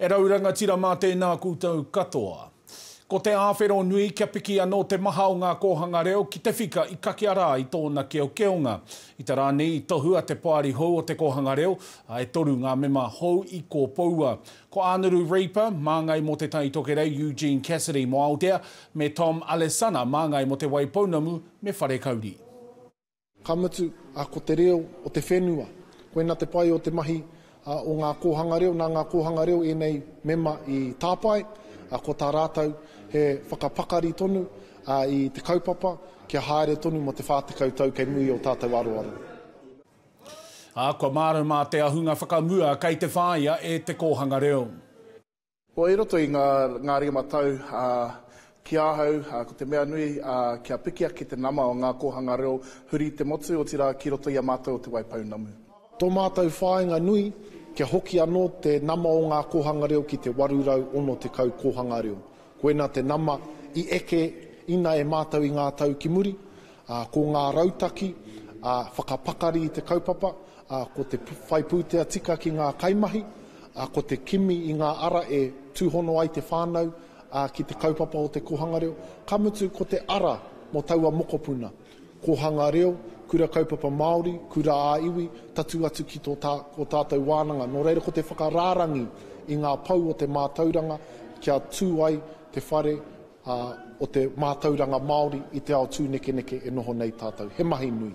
E rau rangatira mā tēnā koutou katoa. Ko te āwhero nui kia piki anō te maha o ngā kōhanga reo ki te whika i kakea rā i tōna keokeonga. I te rā nei i tohua te Poari hou o te Kōhanga Reo, ā, e toru ngā mema hou i kōpoua. Ko Anuru Reaper, māngai mō Te Tai Tokerau, Eugene Cassidy mō Aotea, me Tom Alesana, māngai mō Te Waipounamu me Wharekauri. Ka mutu, a, ko te reo o te whenua. Koina te pai o te mahi, a, o ngā kōhanga reo. Nā ngā kōhanga reo ēnei mema i tāpae, a, ko tā rātou he whakapakari tonu, a, i te kaupapa kia haere tonu mō te whā tekau tau kei muri o tātou aroaro. Ā, kua mārau mā te ahunga whakamua kei te whāia e te kōhanga reo. Kua i roto i ngā, ngā ringa matau, ā, ki ahau, ā, ko te mea nui, ā, kia piki ake te nama o ngā kōhanga reo huri i te motu, otirā, ki roto i a mātou o Te Waipounamu. Tō mātou whāinga nui, kia hoki anō te nama o ngā kōhanga reo ki te 860 kōhanga reo. Koina te nama i eke ina e mātau i ngā tau ki muri, ā, ko ngā rautaki, ā, whakapakari i te kaupapa, ā, ko te whai pūtea tika ki ngā kaimahi, ā, ko te kimi i ngā ara e tūhono ai te whānau, ā, ki te kaupapa o te kōhanga reo, ka mutu ko te ara mō taua mokopuna. Kōhanga reo, Kura Kaupapa Māori, Kura ā Iwi, tatū atu ki tō tātou wānanga. Nō reira ko te whakarārangi i ngā pou o te mātauranga kia tū ai te whare o te mātauranga Māori i te ao tūnekeneke e noho nei tātou. He mahi nui.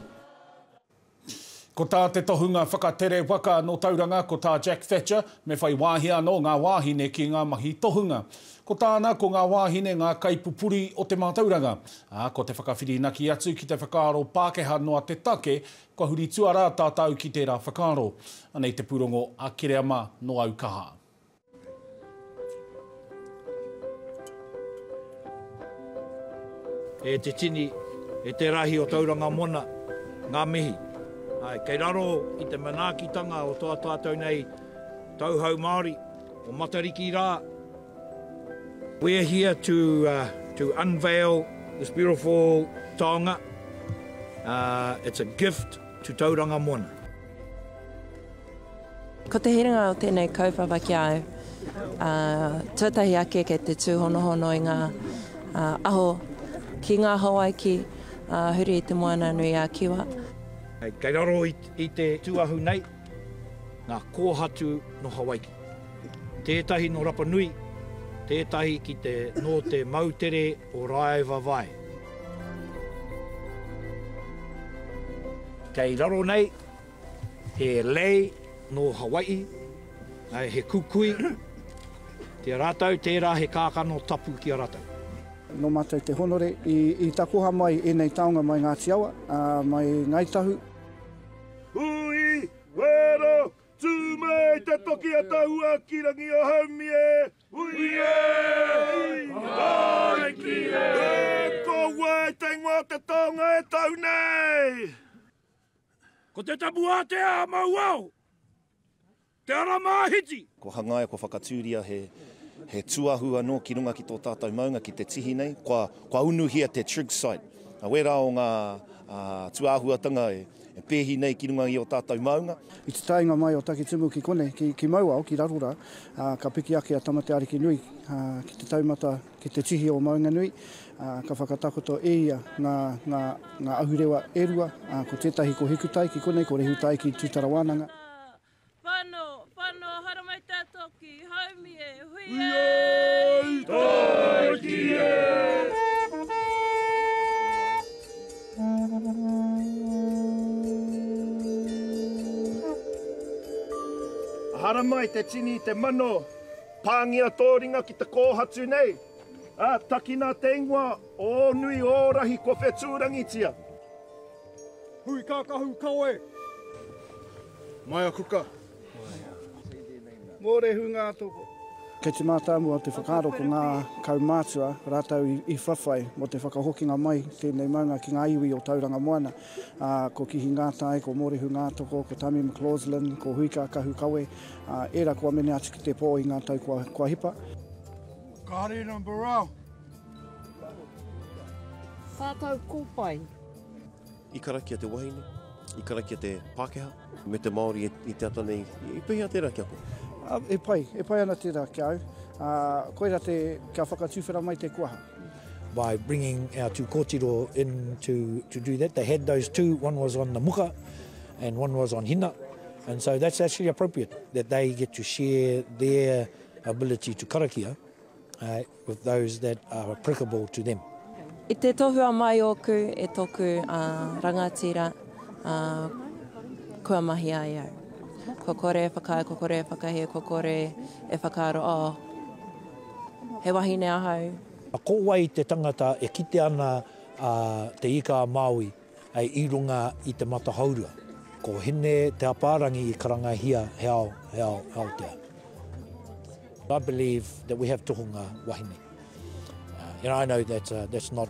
Ko tā te tohunga whakatere waka nō Tauranga ko tā Jack Thatcher me whai wāhi anō ngā wāhine ki ngā mahi tohunga. Ko tāna ko ngā wāhine ngā kaipupuri o te mātauranga, ā, ko te whakawhirinaki atu ki te whakaaro Pākehā noa te take kua huri tuarā tātau ki tērā whakaaro. Anei te pūrongo a Kereama nō Aukaha. E te tini, e te rahi o Tauranga Mona, ngā mihi. Āe, kei raro i te manaakitanga o tō tātou nei tauhou Māori, o Matariki rā, we're here to to unveil this beautiful taonga, it's a gift to Tauranga Mona. Ko te herenga o tēnei kaupapa ki a au, tuatahi ake kei te tūhonohono i ngā aho ki ngā Hawaiki huri i Te Moana nui a Kiwa. Kei raro i te tūahu nei ngā kōhatu nō Hawaiki. Tētahi nō Rapa Nui, tētahi ki te nō te moutere o Rāevawae. Kei raro nei. He lei nō Hawai'i, he kukui ki a rātou, tērā he kākano tapu ki a rātou. Nō mātou te honore i takoha mai ēnei taonga mai Ngāti Awa, mai Ngāi Tahu. Hui, wero, tū mai te toki a Tahua ki rangi o Haumie! Hui e! Hai ki e! Ko wai te ingoa o te taonga e Tahu nei? Ko te tapu ātea a Mauao, te ara māhiti. Kua hangaia, kua whakatūria he he tuahu anō ki runga ki tō tātou maunga, ki te tihi nei. Kua kua unuhia te trig site. Nā wērā o ngā tūāhuatanga e e pēhi nei ki runga i ō tātou maunga. I te taenga mai o Takitimu ki konei, ki ki Mauao, ki raro rā, ka piki ake a Tamatearekinui ki te taumata Ki te tihi o Maunganui, ka whakatakoto e ia ngā, ngā, ngā ahurewa e rua, ko tētahi ko Hikutai ki konei, ko Rehutai ki Tūtara Wānanga. Whano, whano, haramai te toki, haumi e, hui e! Hui ai taiki e! Haramai te tini, te mano, Pāngia tō ringa ki te kōhatu nei, ā, takina te ingoa o ō nui ō rahi kua whetūrangitia. Hui kākahu kawe! Maia kuka! Mōrehu ngā toko! Kei te mātāmua te whakaaro ko ngā kaumātua rātou i whawhai mō te whakahokinga mai i tēnei maunga ki ngā iwi o Tauranga Moana, ā, ko Kihi Ngātai, ko Mōrehu Ngātoko, ko Tami McLaughlin, ko Hui Kākahu Kawe, Era kua mene atu ki te po i nga tau kua hipa. Kare na Burrell. Sa tau ko pai. I karakia te wahine, i karakia te Pakeha, me te Maori i te ata nei, i pehea tera kia koe? E pai, e pai ana tera kia au. Koira te, kia whakatuwhera mai te kuaha. By bringing our two kotiro in to, to do that, they had those two, one was on the muka and one was on hina, and so that's actually appropriate, that they get to share their ability to karakia uh, with those that are applicable to them. I te tohua mai ōku e tōku uh, rangatira uh, kua mahi ai au. Ko kore e whakaae, ko kore e whakahē, ko kore e whakaaro, oh, He wahine ahau. Ko wai te tangata e kite ana a Te Ika-a-Māui i runga i te mata hourua? Ko Hine Te Apārangi i karangahia he ao, he ao Aotea. I believe that we have tohunga wahine and I know that that's not.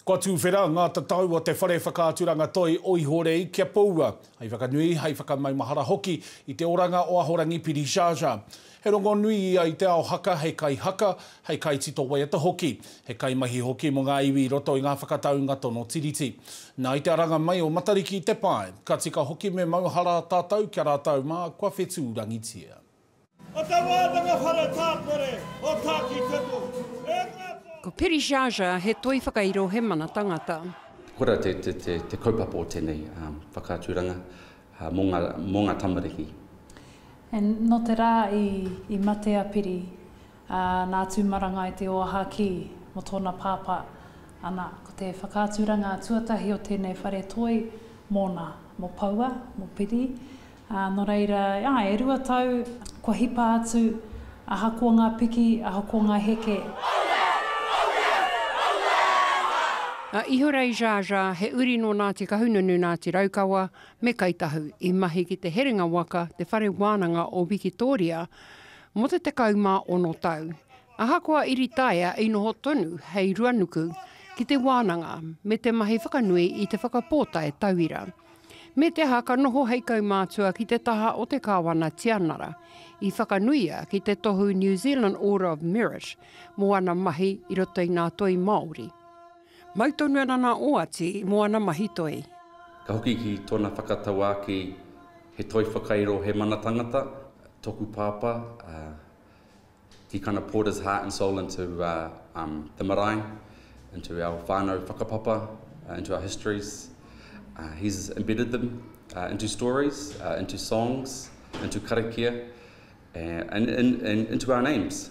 Kua tūwhera ngā tatau o te whare whakaaturanga toi o Ihorei kia poua, hei whakanui, hei whakamaumahara hoki i te oranga o Ahorangi Pirishaasha. He rongonui ia i te ao haka hei kaihaka, hei kaitito waiata hoki, he kaimahi hoki mō ngā iwi i roto i ngā whakataunga tono Tiriti. Nā, i te aranga mai o Matariki i te pae, ka tika hoki me mauhara tātou kia rātou mā kua whetūrangitia. O te wānanga whare tāpere o Tākitimu, e ngā pō. Ko Piri Zhazha he toi whakairo he mana tangata. Kora te te te te kaupapa o tenei whakaaturanga mo nga mo nga tamariki. And no te ra i i mate a Piri. Ā, nā Tūmarangai te oaha kī mō tōna pāpā, ana, ko te whakaaturanga tuatahi o tēnei whare toi mōna, mō Poua, mō Piri, ā, nō reira, ā, e rua tau, kua hipa atu, ahakoa ngā piki, ahakoa ngā heke. A Ihorei Zsa-Zsa, he uri nō Ngāti Kahununu, Ngāti Raukawa, me Kai Tahu, i mahi ki te herenga waka, te whare wānanga o Wikitōria, mō te 16 tau, ahakoa i ritaia i noho tonu hei ruanuku ki te wānanga me te mahi whakanui i te whakapōtae tauira. Me te aha ka noho hei kaumātua ki te taha o te Kāwana Tianara, i whakanuia ki te tohu New Zealand Order of Merit mō ana mahi i roto i ngā toi Māori. Mau tonu ana nā Oati mō ana mahi toi. Ka hoki ki tōna whakatauākī He toi whakairo, he mana tangata, tōku pāpā, he kind of poured his heart and soul into the marae, into our whānau whakapapa, into our histories, he's embedded them into stories, into songs, into karakia and into our names.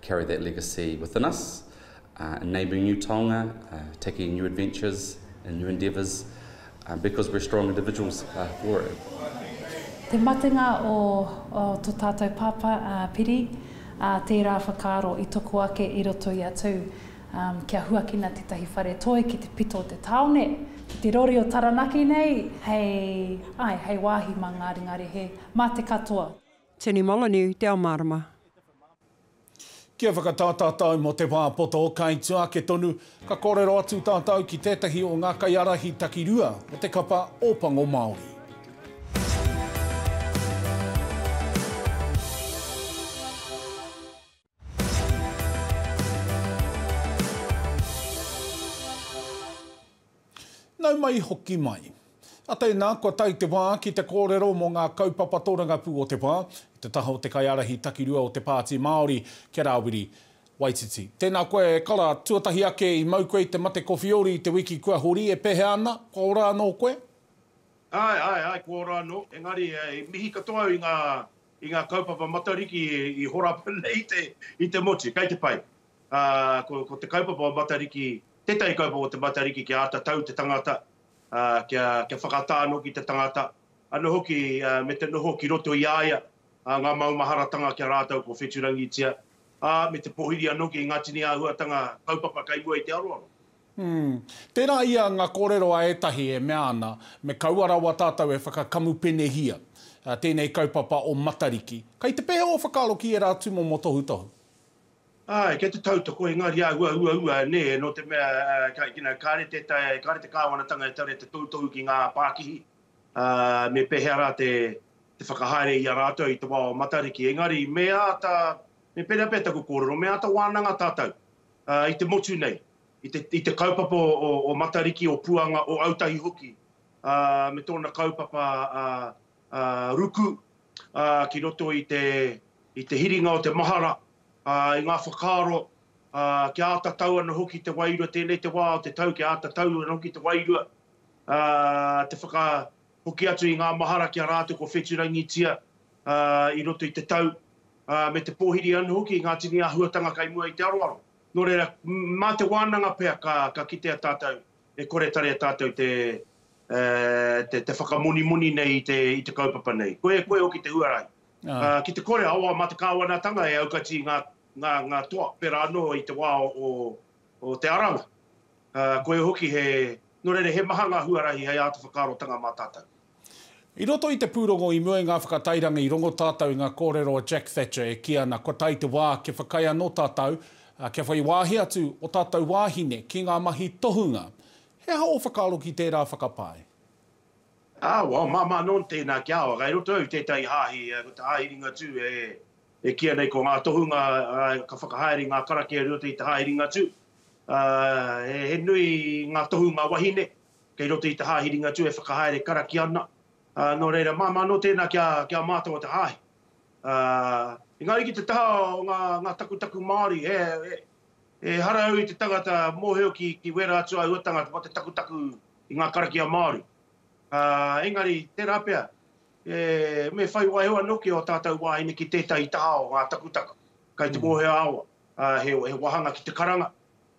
carry that legacy within us, enabling new taonga, taking new adventures and new endeavours because we're strong individuals for it. Te matenga o to tatou papa a Piri, tera whakaaro i toko ake i roto i a Tū kia huakina tetahi whare toi ki te pito o te taone, ki te rori o Taranaki nei hei, ae, hei wahi ma Ngāri Ngārihe, ma te katoa. Tony Molyneux, Te Ao Mārama. Kia whakatā tātou mō te wā poto, kai tua ake tonu, ka kōrero atu tātou ki tētahi o ngā kaiārahi takirua o te kapa Ōpango Māori. Nau mai hoki mai. A tēnā, kua tae te wā ki te kōrero mō ngā kaupapa tōrangapū o te wā, i te taha o te kaiārahi takirua o te Pāti Māori, kia Rāwiri Waititi. Tēnā koe e kara, tuatahi ake i mau koe i te mate kowhiori i te wiki kua hori, e pēhea ana, kua ora anō koe? Āe, āe, āe, kua ora anō, engari, i mihi katoa au i ngā I ngā kaupapa Matariki i horapa nei i te motu, kei te pai. Ā, ko te kaupapa o Matariki, tētahi kaupapa o te Matariki kia āta tau te tangata, ā, kia, kia whakatā anō ki te tangata, anō hoki me te noho ki roto i a ia, ā, ngā maumaharatanga ki a rātou kua wheturangitia, ā, me te pōhiri anō ki ngā tini āhuatanga kaupapa kei mua i te aroaro. Umm. Tērā ia ngā kōrero a ētahi e mea ana, me kaua rawa tātou e whakakamupene-hia tēnei kaupapa o Matariki. Kai te pehe ō whakaaro ki ērā tūmomo tohutohu? Āe, kei te tautoko, engari āhua uaua nē, nō te mea, you know, kāre te, kāre te Kāwanatanga e tare te tohutohu ki ngā pākihi, ā, me pēhea rā te, te whakahaere i a rātou i te wā o Matariki. Engari, me āta, me pērea pea taku kōrero, me āta wānanga tātou, i te motu nei, i te kaupapa o Matariki, o Puanga, o Autahi hoki, me tōna kaupapa ruku ki roto i te hiringa o te mahara, i ngā whakaaro, kia āta tau ana hoki te wairua, tēnei te wā o te tau kia āta tau ana hoki te wairua, hoki atu i ngā mahara ki a rātou kua whetūrangitia i roto i te tau, ā, me te pōhiri anō hoki i ngā tini āhuatanga kai mua i te aroaro. Nō reira, mā te wānanga pea ka, ka kitea tātou e kore tarea tātou te, e, te whakamonimoni nei i te, i te kaupapa nei. Koe, koe hoki te huarahi. Ā, ki te kore, awa, mā te Kāwanatanga e aukati ngā, ngā, ngā toa, pērā anō i te wā o, o te aranga. Ā, koia hoki he, nō reira, he maha ngā huarahi hei āta whakaarotanga mā tātou. I roto i te pūrongo i mua i ngā whakatairanga i rongo tātou i ngā kōrero a Jack Thatcher e kī ana kua tae te wā kia whakaae anō tātou, ā, kia whai wāhi atu ō tātou wāhine ki ngā mahi tohunga. He aha ō whakaaro ki tērā whakapae? Ā, wā, māmā nōn tēnā ki a au, kei roto au i tētahi hāhi, ko te hāhi Ringatū e E kīia nei ko ngā tohunga ka whakahaere i ngā karakia i roto i te hāhi Ringatū. He nui ngā tohunga wahine kei roto i te hāhi Ringatū e whakahaere karakia ana. Nō reira, māmā anō tēnā kia mātau o te hāhi. Engari ki te taha o ngā takutaku Māori, he hara au i te tangata mōhio ki wērā atu āhuatanga mō te takutaku i ngā karakia Māori. Engari, tērā pea, Me whai waewae anō ki ō tātou wāhine ki tētahi taha o ngā takutaka kai te mōhio ā-awa, ā, he wāhanga ki te karanga,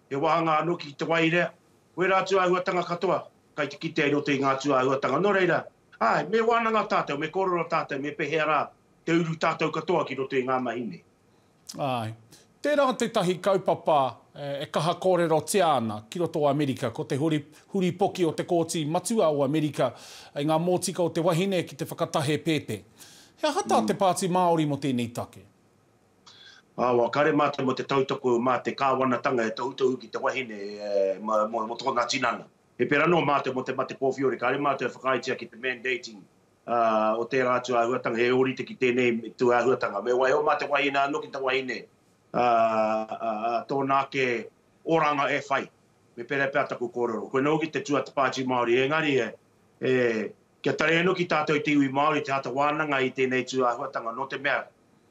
he wāhanga anō ki te waerea, wērā atu āhuatanga katoa kai te kitea i roto i ngā tūāhuatanga. Nō reira, āe, me wānanga tātou, me kōrero tātou me pēhea rā te uru tātou katoa ki roto i ngā mahi nei. Āe. Tērā tētahi kaupapa e kaha kōrerotia ana ki roto o Amerika, ko te huripoki o te Kōti Matua o Amerika i ngā mōtika o te wahine ki te whakatahe pēpē. He aha tā te Pāti Māori mō tēnei take? Awa, kare mātou mō te tautoko mā te Kāwanatanga e tohutohu ki te wahine mō tōna tinana. He pērā anō mātou mō te mate kōwhiore, kāre mātou e whakaaetia ki te mandating o tērā atu āhuatanga, he ōrite ki tēnei tū āhuatanga. Me waiho mā te wahine anō ki te wahine tōna ake oranga e whai. Me pērā pea taku kōrero. Koinei hoki te tuata Pāti Māori, engari kia taria anō ki tātou te iwi Māori te āta wānanga i tēnei tū āhuatanga, nō te mea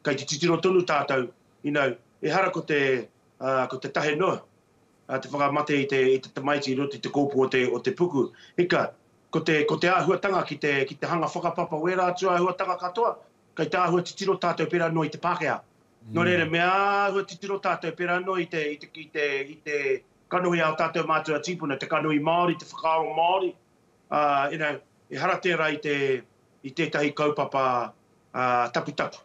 kei te titiro tonu tātou, you know, ehara ko te tahe noa te whakamate i te tamaiti i roto i te kōpū o te puku, ika, Ko te, ko te āhuatanga ki te, ki te hanga whakapapa o ērā atu āhuatanga katoa, kei te āhua titiro tātou pērā noa i te Pākehā. Nō reira, me āhua titiro tātou pērā noa i te, i te, i te, i te kanohi a ō tātou mātua tīpuna, te kanohi Māori, te whakaaro Māori, ā, you know, ehara tērā i te, i tētahi kaupapa, ā, taputapu,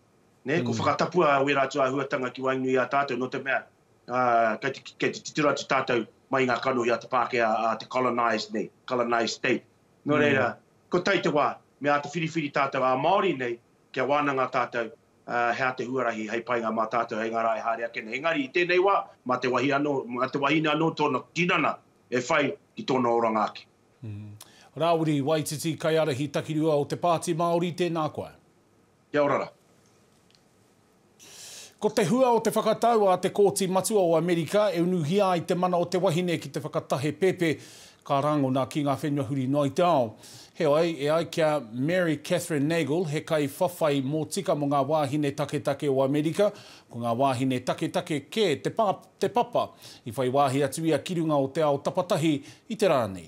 nē, ko whakatapua wērā atu āhuatanga ki waenganui i a tātou, nō te mea, ā, kei te, kei te titiro atu tātou mai i ngā kanohi a te Pākehā, a te colonised nei, colonised state. Nō reira, ko tai te wā, me āta whiriwhiri tātou ā Māori nei, kia wānanga tātou, ā, he aha te huarahi hei painga mā tātou hei ngā rā e haere ake nei. Engari i tēnei wā, mā te wahi anō, mā te wahine anō tōna tinana e whai ki tōna oranga ake. Rāwiri Waititi, Kaiārahi Takirua o te Pāti Māori, tēnā koe. Kia ora ra. Ko te hua o te whakatau a te Kōti Matua o Amerika e unuhia ai te mana o te wahine ki te whakatahe pēpē ka rangona ki ngā whenua huri noa i te ao. Heoi, e ai ki a Mary Kathryn Nagle, he kaiwhawhai mōtika mō ngā wāhine taketake o Amerika, ko ngā wāhine taketake kē te pa, te papa i whai wāhi atu ia ki runga o te ao tapatahi i te rā nei.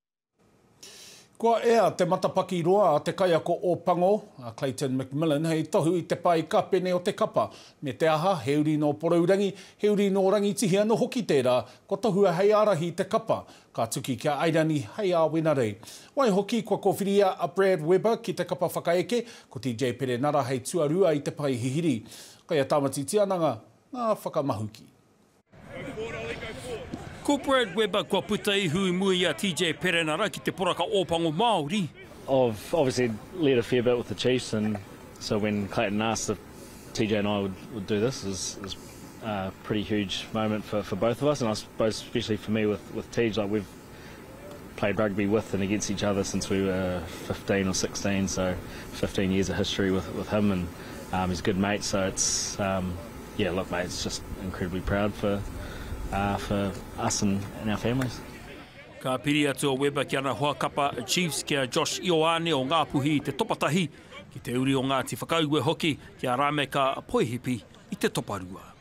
Kua ea te matapaki roa a te kaiako o Pango, a Clayton McMillan, hei tohu i te pae ka pene o te kapa. Me te aha, he uri nō Porourangi, he uri nō Rangitihi anō hoki tērā, kua tohua hei ārahi i te kapa, ka tuki ki a Airani hei āwenarei. Waihoki, kua kōwhiria a Brad Weber ki te kapa whakaeke, ko TJ Perenara hei tuarua i te pae hihiri. Kei a Tāmati Tiananga ngā whakamahuki. Ko Brad Weber kua puta ihu i mua i a TJ Perenara ki te poraka Ōpango Māori. I've obviously led a fair bit with the Chiefs and so when Clayton asked if TJ and I would would do this is is a pretty huge moment for for both of us and I suppose especially for me with with TJ like we've played rugby with and against each other since we were fifteen or sixteen so fifteen years of history with with him and um he's a good mate so it's um yeah look mate it's just incredibly proud for uh for us and and our families. Ka piri atu a Weber ki ana hoa kapa Chiefs ki a Josh Ioane o Ngāpuhi i te topa tahi, ki te uri o Ngāti Whakaue hoki ki a Rameka Poihipi i te topa rua.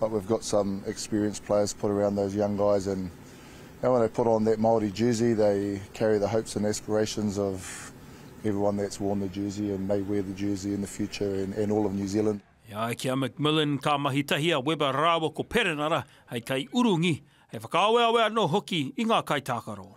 But we've got some experienced players put around those young guys and when they put on that Māori jersey they carry the hopes and aspirations of everyone that's worn the jersey and may wear the jersey in the future and all of New Zealand. E ai ki a McMillan ka mahi tahi a Weber rāua ko Perenara hei kaiurungi, hei whakaaweawe anō hoki i ngā kaitākaro.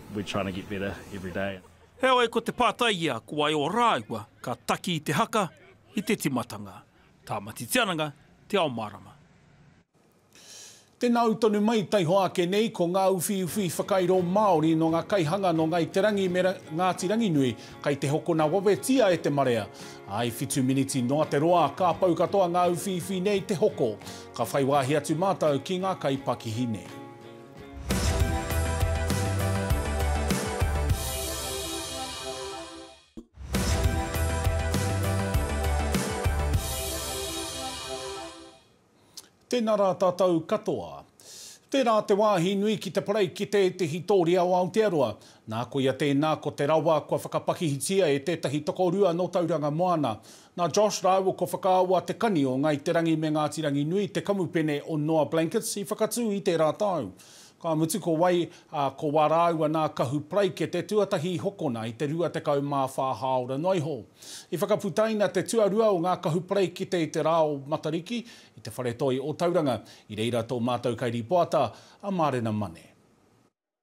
We're trying to get better every day. Heoi, ko te pātai ia, ko ai ō rāua ka taki i te haka, i te timatanga, Tāmati Tiananga, Te Ao Mārama. Tēnā au tonu mai taihoa ake nei ko ngā uwhiuwhi whakairo Māori nō ngā kaihanga nō Ngāi Te Rangi me Ngāti Ranginui kei te hokona wawetia e te marea. I whitu miniti noa te roa, ka pau katoa ngā uwhiuwhi nei te hoko. Ka whai wāhi atu mātou ki ngā kaipakihi nei. Tēnā rā tātou katoa. Tērā te wāhi nui ki te parei ki tētehi tōria o Aotearoa. Nā koia tēnā ko te rawa kua whakapakihitia e tētahi tokorua nō Tauranga Moana. Nā Josh rāua ko Whakaawā Te Kani o Ngāi Te Rangi me Ngāti Ranginui te kamupene o Noa Blankets i whakatū i tērā tau. Ka mutu ko wai, ā, ko wā rāua nā Kahu Paraikete tuatahi i hokona i te 24 hāora noa iho. I whakaputaina te tuarua o ngā Kahu Paraikete i te rā o Matariki i te whare toi o Tauranga. I reira tō mātou kairīpoata, a Mārena Mane.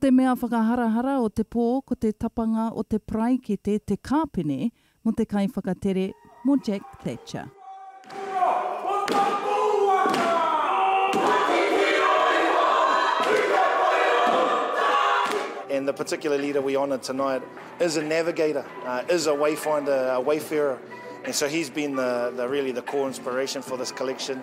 Te mea whakaharahara o te pō ko te tapanga o te paraikete te kāpene mō te kaiwhakatere, mō Jack Thatcher. And the particular leader we honour tonight is a navigator, is a wayfinder, a wayfarer, and so he's been the, the really the core inspiration for this collection.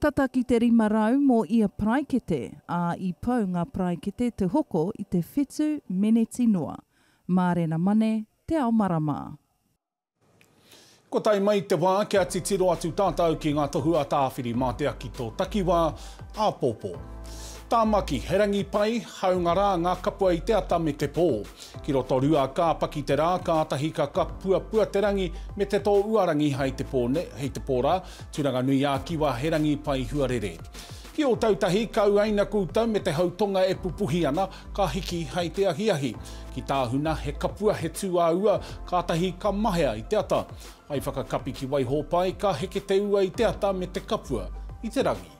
Tata ki te rima rau mō ia paraikete, ā, i pau ngā paraikete te hoko i te whitu meneti noa. Mārena Mane, Te Ao Marama. Kua tae mai te wā kia titiro atu tātou ki ngā tohu a Tāwhiri-mātea ki tō takiwā, āpōpō. Tāmaki, he rangi pai, hāunga rā ngā kapua i te ata me te pō. Ki Rotorua, ka paki te rā, kātahi ka kapuapua te rangi me te tō uarangi hei te pō rā, Turanganui-ā-Kiwa he rangi pai huarere. Ki Ōtautahi, ka uaina koutou me te hau tonga e pupuhi ana, ka hiki hei te ahiahi. Ki Tāhuna, he kapua, he tū ā-ua, kātahi ka mahea i te ata. Hai whakakapi ki Waihōpai, ka heke te ua i te ata me te kapua i te rangi.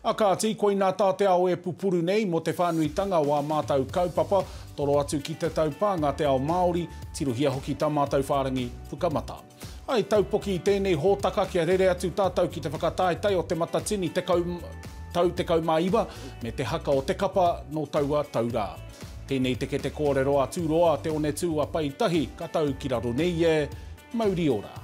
A kāti, koinā tā te ao e pupuru nei mō te whānuitanga o ā mātau kaupapa, toro atu ki te taupānga te ao Māori, tirohia hoki tā mātau whārangi Pukamata. I taupoki i tēnei hōtaka kia rere atu tātau ki te whakataetae o Te Matatini tekau tau tekau mā iwa me te haka o te kapa nō taua tau rā. Tēnei te kete kōrero a Tūroa Te Onetū a Pai Tahi ka tau ki raro nei e, mauri ora.